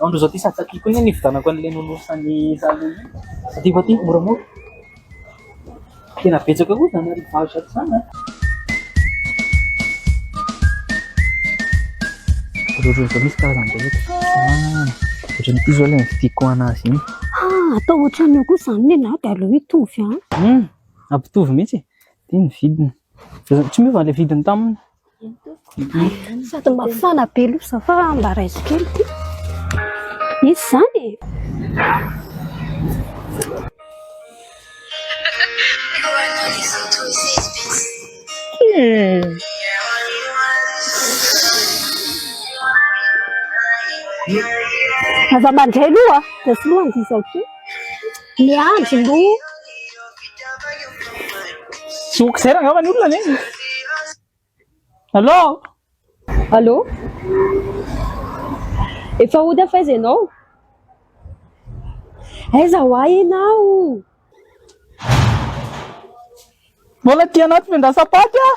Andro izao ty sady tiako ihany ny hividianako an'ilay nonosan'i Zalo iny. Aty fa aty, moramora. Tena betsaka koa izany arrivage ato izany an. Rôrô izao misy karazany be eto. Ah, ohatran'ity izao ilay nividiako anazy iny. Ah, atao ohatran'ny eo kosa izany ny lahy dia aleo hitovy an. Hum, hampitovy mihitsy e. Ity ny vidiny. Tsy miova ilay vidiny taminy. Sady mafana be loza fa mba raiso kely ity. Izy izany e! Aza mandray loha dia soloy an'ity izahay ity. Miandry no. Tsy ok zay rangava ny olona ne. Allô? Allô? Efa hody aho f'aiza ianao? Aiza ho ahy ianao? Mbola aty anaty vendrasapaty aho.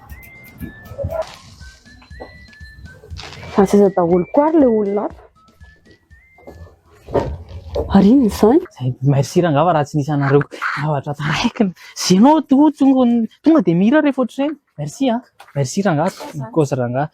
Asa aiza daholo koa ary ilay olona ato? Ary inona izany? Merci rangava raha tsy nisy anareo zavatra taraiky ny zenao tonga dia mihira rehefa ohatr'ireny merci a merci rangah cause rangah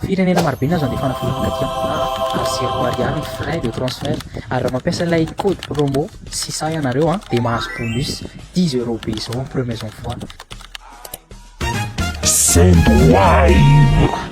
Firenena marobe nahazo andefana vola taty ampita ary zéro ariary ny frais de transfert ary raha mampiasa ilay code promo sisa ianareo an dia mahazo bonus dix euros be izao en premiers envois. Send wave.